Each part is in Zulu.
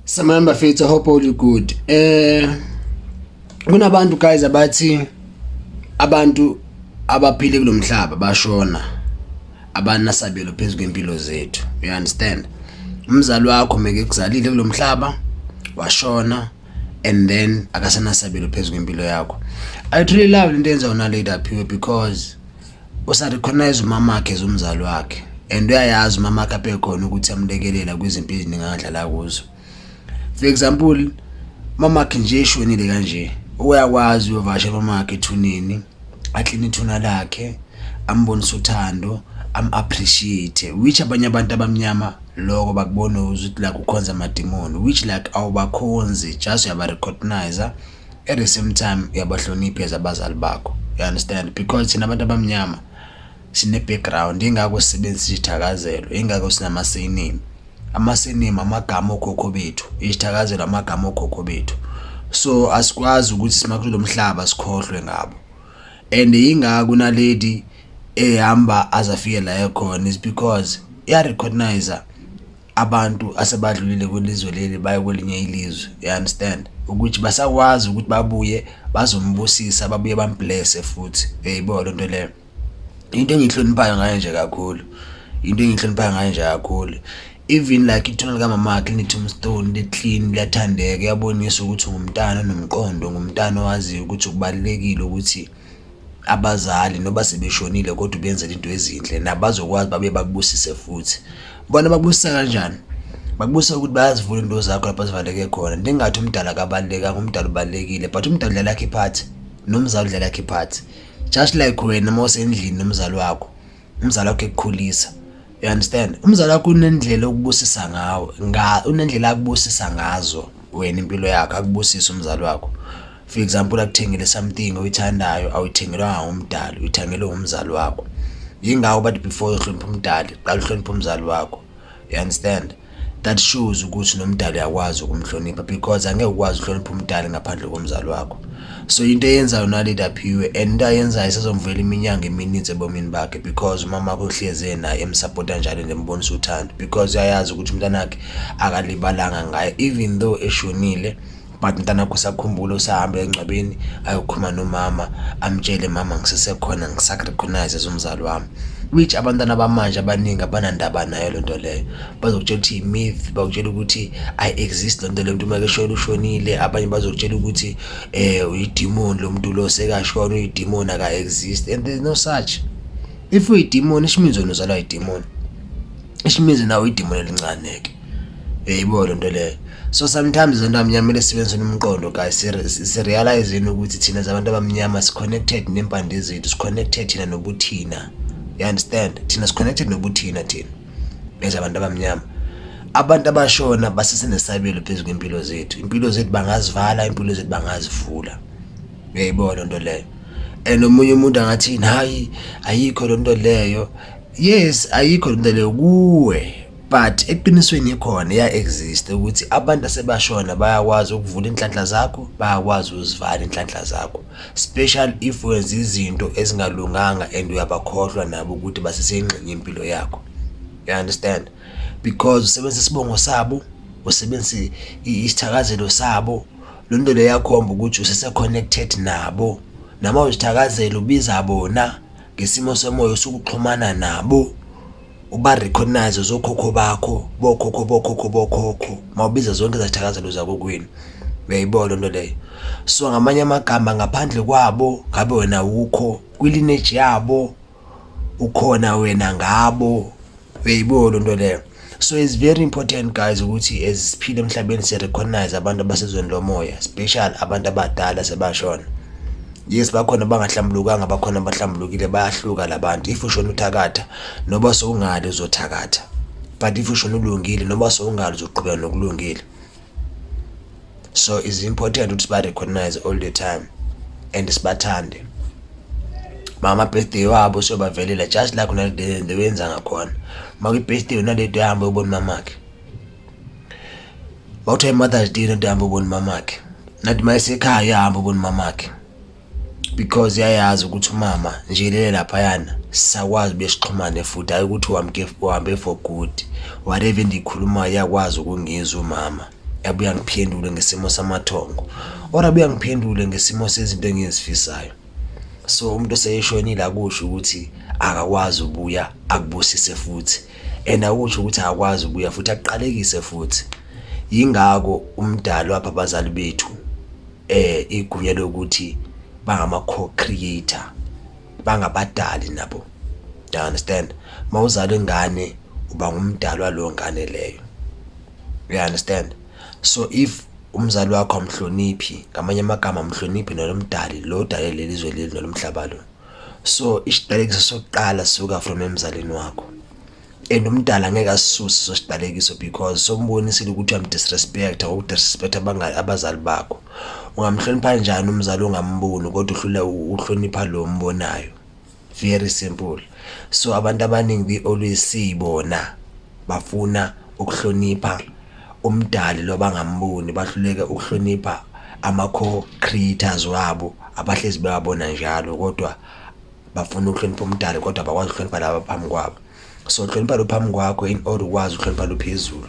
Samani bafethu, I hope all you good. Eh kunabantu guys abathi abantu abaphile kulomhlaba bashona abanasabelo phezu kwempilo zethu. You understand? Umzali wakho meke kuzalile kulomhlaba washona and then akasenasabelo phezu kwempilo yakho. I truly love into enza unalady aphiwe because usarecognize umama wakhe as umzali wakhe and uyayazi umama wakhe abekhona ukuthi amlekelela kwizimpi eziningi angadlala kuzo for example mama wakhe nje eshonile kanje uyakwazi uyovasha mama wakhe ethuneni akline ithuna lakhe ambonise uthando am-appreciate which abanye abantu abamnyama loko bakubona ukuthi la kukhonza amadimoni which like awubakhonzi just uyabarecognize at the same time uyabahlonipha as abazali bakho you understand because thina abantu abamnyama sine-background ingakho sisebenzisa isithakazelo ingakho sinamasinimi amasinimi amagama okhokho bethu isithakazelo amagama okhokho bethu so asikwazi ukuthi simakulo mhlaba sikhohlwe ngabo and ingakho nalady ehamba azafike la ekhona is because iyarecognize abantu asebadlulile kwelizwe leli baye kwelinye ilizwe you understand ukuthi basakwazi ukuthi babuye bazombusisa babuye bamblese futhi eyibo lento leyo into engihloniphayo ngayo nje kakhulu into engihloniphayo ngayo nje kakhulu even like ithuna likaMamakhe lineTombstone liclean liyathandeka yabonisa ukuthi ungumntana nomqondo ngumntana owaziyo ukuthi kubalekile ukuthi abazali noba sebeshonile kodwa ubenzela into ezinhle nabazokwazi babe bakubusise futhi bona bakubusisa kanjani bakubusisa ukuthi bayazivula into zakho lapho zivaleke khona ndingathi umdala akabalulekanga umdala ubalulekile but umdala udlala yakhe iphathi nomzali udlala yakhe iphathi just like wena uma usendlini nomzali wakho umzali wakho ekukhulisa you understand umzali wakho unendlela okubusisa ngawo nga unendlela akubusisa ngazo wena impilo yakho akubusisa umzali wakho for example akuthengele something oyithandayo awuyithengelwanga ngumdali uyithengelwe ngumzali wakho yingakho bathi before uhlonipha umdali qala uhlonipha umzali wakho you understand that shows ukuthi nomdali uyakwazi ukumhlonipha because angeke ukwazi uhlonipha umdali ngaphandle komzali wakho so into eyenzayo unalida phiwe and into ayenzayo isazomvela iminyanga emininzi ebomini bakhe because umama wakho uhleze naye emsapota njalo ngembonisa uthando because uyayazi ukuthi umntanakhe akalibalanga ngaye even though eshonile but mntana kusakhumbula usahamba engcwabeni ayokhuluma nomama amtshele mama ngisesekhona ngisarecognize as umzali wami which abantwana bamanje abaningi abanandaba nayo le nto leyo bazokutshela ukuthi i-myth bakutshela ukuthi ayi-exist le nto le mntu uma keshona ushonile abanye bazokutshela ukuthi um uyidimoni lo mntu lo sekashona uyidimoni aka-exist and there's no such if uyidimoni isho means wena uzalwa yidimoni isho means nawe uyidimoni elincane-ke Uyayibo lento leyo. So sometimes zonto amnyama kumele sibenze nomqondo guys si realize yini ukuthi thina zabantu abamnyama si connected nempande zethu, si connected thina nobuthina. You understand? Thina si connected nobuthina thina. Bese abantu abamnyama. Abantu abashona basesenesabelo phezu kwempilo zethu. Impilo zethu bangazivala, impilo zethu bangazivula. Uyayibo lento leyo. And omunye umuntu angathi hayi ayikho lento leyo. Yes, ayikho lento leyo kuwe. but eqinisweni ikhona iya exist ukuthi abantu asebashona bayakwazi ukuvula inhlanhla zakho bayakwazi uzivala inhlanhla zakho special if wenza izinto ezingalunganga and uyabakhohlwa nabo ukuthi basesengxenye yempilo yakho you understand because usebenzisa isibongo sabo usebenzisa isithakazelo sabo lo nto leyo yakhomba ukuthi usese-connected nabo nama uzithakazela ubiza bona ngesimo somoya osukuxhumana nabo uba recognize zokhokho bakho bokhokho bokhokho bokhokho mawubiza zonke izathakazelo zakokwenu uyayibona loo nto leyo so ngamanye amagama ngaphandle kwabo ngabe wena wukho kwilineji yabo ukhona wena ngabo uyayibona loo nto leyo so it's very important guys ukuthi as siphile emhlabeni sirecognize abantu abasezweni lomoya special abantu abadala sebashona yes bakhona bangahlambulukanga bakhona abahlambulukile bayahluka labantu if ushona uthakatha noba sowungali uzothakatha but if ushona ulungile noba sowungali uzoqhubeka nokulungile so is important ukuthi ba-recognize all the time and sibathande mama birthday wabo siyobavelela just like unalide wenza ngakhona uma kwi-birthday unalide uhambe ubona mamakhe bawuthiwa i-mothers day nade hambe ubona mamakhe nathi uma esekhaya uyahambe ubona mamakhe because yayazi ukuthi umama nje lele laphayana sisakwazi besixhumane futhi hayi ukuthi wamke uhambe for good whatever endiyikhulumayo yakwazi ukungizwa umama yabuye angiphendule ngesimo samathongo or abuye angiphendule ngesimo sezinto engizifisayo so umuntu oseyeshonile akusho ukuthi akakwazi ubuya akubusise futhi and akusho ukuthi akakwazi ubuya futhi aqalekise futhi yingako umdalo apha abazali bethu eh igunya lokuthi bangama co-creator bangabadali nabo do you understand uma uzala ingane uba ngumdali waleyo ngane leyo you understand so if umzali wakho amhloniphi ngamanye amagama amhloniphi nolomdali lo dale leli zwe leli nolomhlaba lo so isidalekiso sokuqala suka from emzalini wakho and umdala ngeke asisuse sosiqalekiso because sombonisile ukuthi uyamdisrespecta ngokudisrespecta abazali bakho ungamhlonipha njani umzali ongamboni kodwa uhlule uhlonipha lo mbonayo very simple so abantu abaningi we always see bona bafuna ukuhlonipha umdali lo bangamboni bahluleke ukuhlonipha ama-co-creators wabo abahlezi bewabona njalo kodwa bafuna ukuhlonipha umdali kodwa abakwazi ukuhlonipha laba phambi kwabo so hlonipha lo phambi kwakho in order ukwazi ukuhlonipha lo phezulu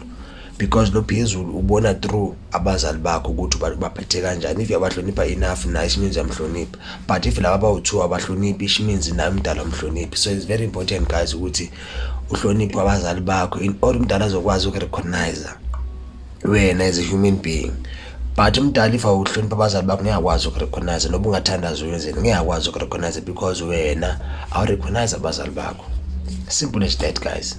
because lo phezulu ubona through abazali bakho ukuthi baphethe kanjani if yabahlonipha enough naye isho means yamhlonipha but if laba bawu-two abahloniphi isho means naye umdala umhloniphi so it's very important guys ukuthi uhloniphe abazali bakho in order umdala azokwazi uku-recognizer wena as a human being but umdala if awuhlonipha abazali bakho ngeke akwazi ukurecognize noba ungathandaza uyenzeni ngeke akwazi ukurecognize because wena awurecognize abazali bakho simple as that guys